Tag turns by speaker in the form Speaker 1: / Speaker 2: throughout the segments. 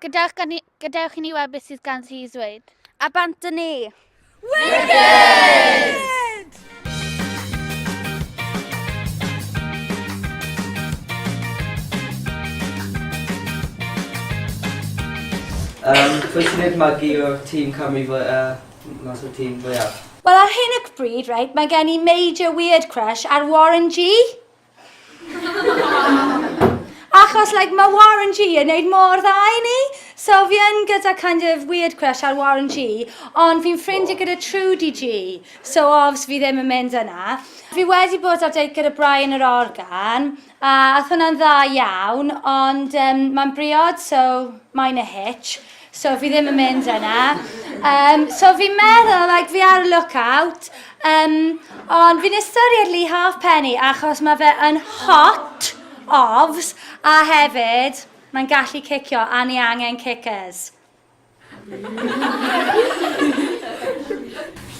Speaker 1: Gadewch,
Speaker 2: ni, gadewch i ni weld beth sydd gan i ddweud. A bant yn ni!
Speaker 1: Wicked! Um, Pwy
Speaker 2: sy'n
Speaker 3: gwneud magu o'r tîm Cymru fwy, uh, mas o'r tîm fwyaf? Wel, ar hyn y
Speaker 4: bryd, right, mae gen i major weird crush ar Warren G. Achos, like, mae Warren G yn neud mor dda i ni. So fi yn gyda kind of weird crush ar Warren G, ond fi'n ffrindiau gyda Trudy G. So obviously fi ddim yn mynd yna. Fi wedi bod ar date gyda Brian yr Organ, a ath hwnna'n dda iawn, ond um, mae'n briod, so mae'n a hitch. So fi ddim yn mynd yna. Um, so fi'n meddwl, like, fi ar y lookout, um, ond fi'n ystyried Lee Halfpenny achos mae fe yn hot ofs a hefyd mae'n gallu cicio a ni angen kickers.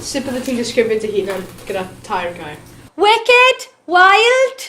Speaker 5: Sut bydde ti'n disgrifio dy hunan gyda tair gair? Wicked,
Speaker 4: wild,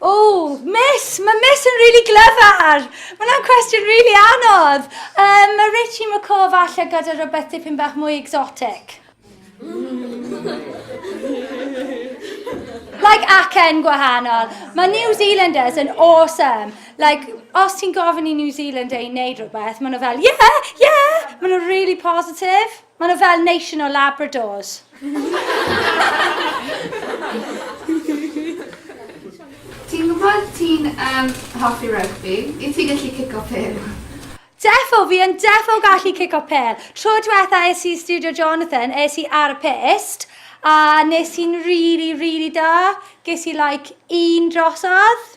Speaker 5: Oh,
Speaker 4: miss! Mae miss yn really glyfar! Mae hwnna'n cwestiwn really anodd! Um, mae Richie McCaw falle gyda rhywbeth dipyn bach mwy exotic. like acen gwahanol. Mae New Zealanders yn awesome. Like, os ti'n gofyn i New Zealand ei wneud rhywbeth, maen nhw fel, yeah, yeah! Maen nhw'n really positive. Mae nhw fel nation o Labradors.
Speaker 6: Ti'n gwybod ti'n um, hoffi rygbi? Wyt ti'n gallu cico pel? Defo, fi
Speaker 4: yn defo gallu cico pel. Tro diwetha es i Studio Jonathan, es i ar y pist, a nes i'n really, really da. Ges i like un drosodd.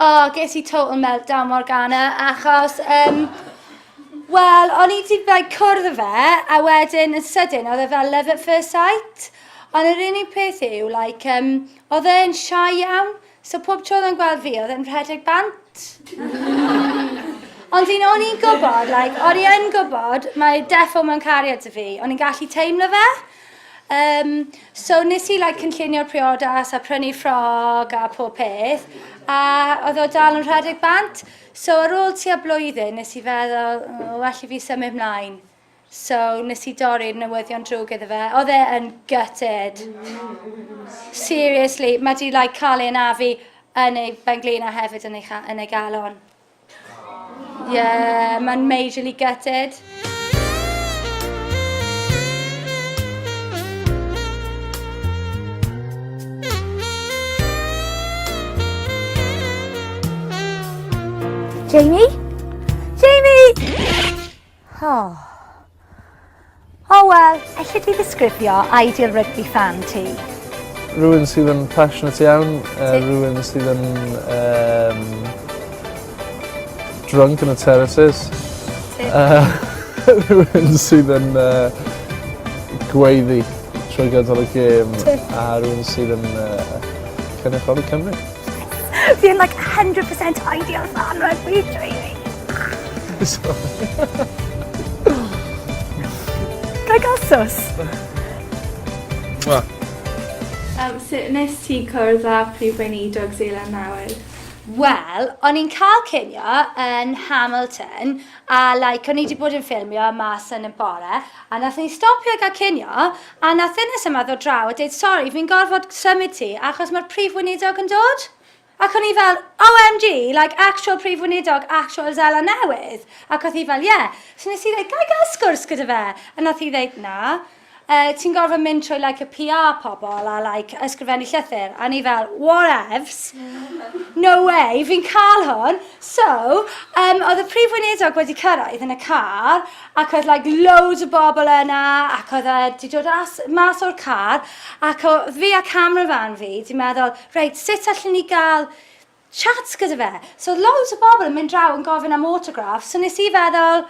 Speaker 1: O, ges i
Speaker 4: total meltdown Morgana, achos, um, wel, o'n i wedi like, cwrdd â fe, a wedyn yn sydyn, oedd e fel love at first sight. Ond yr unig peth yw, like, um, oedd e'n shy iawn, so pob tro oedd e'n gweld fi, oedd e'n rhedeg bant. Ond un o'n i'n gwybod, like, o'n i yn gwybod, mae defo mewn cariad y fi, o'n i'n gallu teimlo fe. Um, so nes i like, cynllunio'r priodas a prynu ffrog a pob peth, a oedd o dal yn rhedeg bant. So ar ôl tua blwyddyn, nes i feddwl, oh, well i fi symud mlaen. So nes i dorri'r newyddion drwg iddo fe. Oedd e yn gutted. Seriously, mae di like, cael ei anafu yn ei benglin a hefyd yn ei, yn ei galon. Yeah, mae'n majorly gutted.
Speaker 7: Jamie? Jamie! Oh. Oh well, elli di ddisgrifio ideal rugby fan ti? Rwy'n
Speaker 8: sydd yn passionate iawn, uh, rwy'n sydd yn um, drunk yn y terraces. Uh, rwy'n sydd yn uh, gweiddi trwy gydol y gêm a rwy'n sydd yn uh, cynrychioli Cymru. Fi yn
Speaker 7: like 100% ideal fan rhaid fi dweud. Ga i gael sus? Mwah.
Speaker 6: Yym sut nes ti cwrdd â Prif Weinidog Seland Newydd?
Speaker 4: Wel, o'n i'n cael cinio yn Hamilton a like o'n i 'di bod yn ffilmio mas yn y bore a nathon ni stopio i ga'l cinio A nath ddynes yma ddod draw a deud sori fi'n gorfod symud ti achos ma'r prif weinidog yn dod. Ac o'n i fel OMG like actual prif weinidog actual Seland Newydd ac o'th hi fel ie. So nes i ddeud ga i ga'l sgwrs gyda fe a nath hi ddeud na yy ti'n gorfod mynd trwy like y PR pobol a like ysgrifennu llythyr a o'n i fel whatevs no way fi'n ca'l hwn. So yym o'dd y prif weinidog wedi cyrraedd yn y car ac oedd like loads o bobl yna ac oedd e di dod as, mas o'r car ac oedd fi a camera fan fi di meddwl reit sut allan ni gael chat gyda fe so oedd loads o bobl yn mynd draw yn gofyn am autograph so nes i feddwl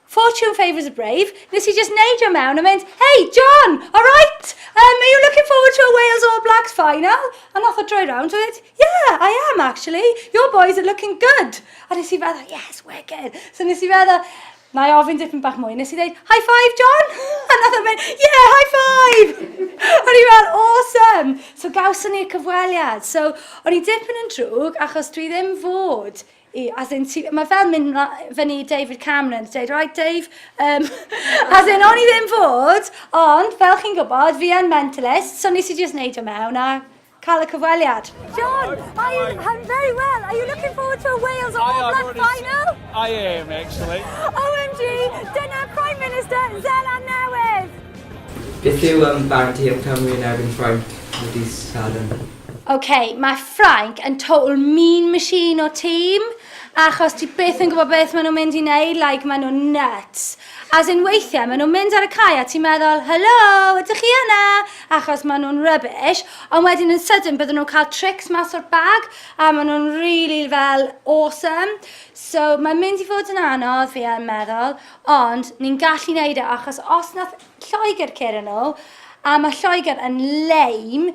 Speaker 4: Fortune favours a brave, nes i just neidio mewn a mynd, hey John, alright, um, are you looking forward to a Wales All Blacks final? A nath o droi rownd a dweud, Yeah, I am actually. Your boys are looking good. A nes i feddwl, yes, wicked. So nes i feddwl, na i ofyn dipyn bach mwy. Nes i ddeud, high five, John? A nath o'n mynd, yeah, high five! o'n i fel, awesome! So gawson ni'r cyfweliad. So, o'n i dipyn yn drwg, achos dwi ddim fod i, as in, ti, mae fel mynd fyny David Cameron, dweud, right Dave, um, as in, o'n i ddim fod, ond fel chi'n gwybod, fi yn mentalist, so nes i just neud o mewn a cael y cyfweliad. John, I am,
Speaker 7: I'm very well. Are you looking forward to a Wales All Black final? I am,
Speaker 8: actually. OMG,
Speaker 7: dyna Prime Minister Zeland Newydd! Beth
Speaker 3: yw am barti am Cymru yn erbyn Ffrainc wedi sadwn? OK, mae
Speaker 4: Ffrainc yn total mean machine o tîm, achos ti byth yn gwybod beth maen nhw'n mynd i wneud, like, maen nhw'n nuts. As in weithiau maen nhw'n mynd ar y cae a ti'n meddwl, helo, ydych chi yna? Achos maen nhw'n rubbish, ond wedyn yn sydyn bydden nhw'n cael tricks mas o'r bag a maen nhw'n really fel awesome. So mae'n mynd i fod yn anodd, fi yn meddwl, ond ni'n gallu wneud e achos os nath Lloegr curo nhw, a mae Lloegr yn lame,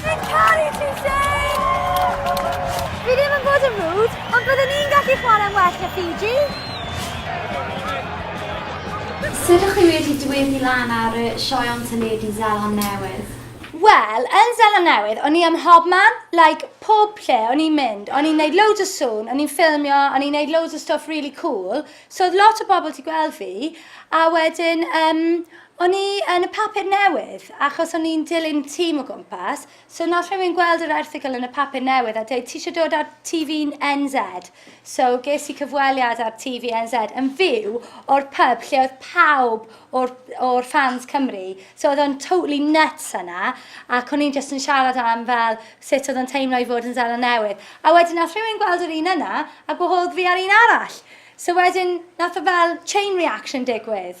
Speaker 7: Fi'n caru ti, Shane! Fi ddim yn bod yn rŵd, ond byddwn ni'n gallu chwarae'n well na Fiji.
Speaker 1: Sut ych chi wedi dweddu lan ar y sioe o'n symud i Zeland Newydd? Wel, yn
Speaker 4: Zeland Newydd, o'n i ym mhob man, like, pob lle o'n i'n mynd. O'n i'n neud loads o sŵn, o'n i'n ffilmio, o'n i'n neud loads o stwff really cool, so oedd lot o bobl 'di gweld fi, a wedyn, um, O'n i yn y papur newydd, achos o'n i'n dilyn tîm o gwmpas, so wnaeth rhywun gweld yr erthygl yn y papur newydd a dweud, 'ti eisiau dod ar TVNZ? So ges i cyfweliad ar TVNZ yn fyw o'r pub lle oedd pawb o'r o'r fans Cymru, so oedd o'n totally nuts yna, ac o'n i'n jyst yn siarad am fel sut oedd o'n teimlo i fod yn Seland Newydd. A wedyn wnaeth rhywun gweld yr un yna a gwahodd fi ar un arall. So wedyn wnaeth y fel chain reaction digwydd.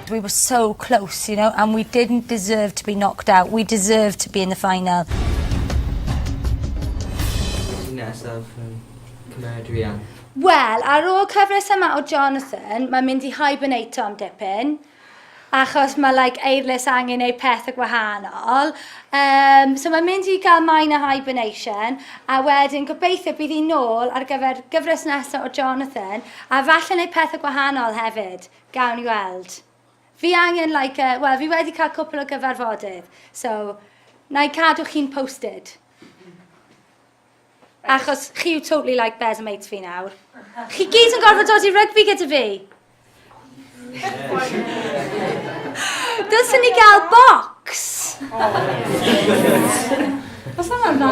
Speaker 7: we were so close, you know, and we didn't deserve to be knocked out. We deserved to be in the final.
Speaker 3: Wel, ar
Speaker 4: ôl cyfres yma o Jonathan, mae'n mynd i hibernato am dipyn, achos mae like, eirlus angen ei peth y gwahanol. Um, so mae'n mynd i gael maen o hibernation, a wedyn gobeithio bydd hi'n nôl ar gyfer gyfres nesaf o Jonathan, a falle ei peth y gwahanol hefyd. Gawn ni weld. Fi angen like a, wel fi wedi cael cwpl o gyfarfodydd, so na i cadw chi'n posted. Achos chi yw totally like bears and mates fi nawr. Chi gyd yn gorfod dod i rygbi gyda fi. Dylsyn ni gael box. Os yna'n dda.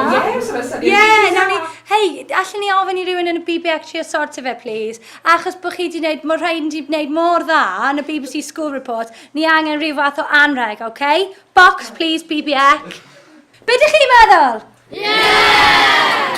Speaker 4: Ie, nawn ni, hei, allen ni ofyn i rywun yn y BBX trio sortio fe, please? Achos bod chi di wneud, mae rhaid di wneud mor dda yn y BBC School Report, ni angen rhyw fath o anrheg, oce? Okay? Box, please, BBEC. Be dych chi'n meddwl? Yeah!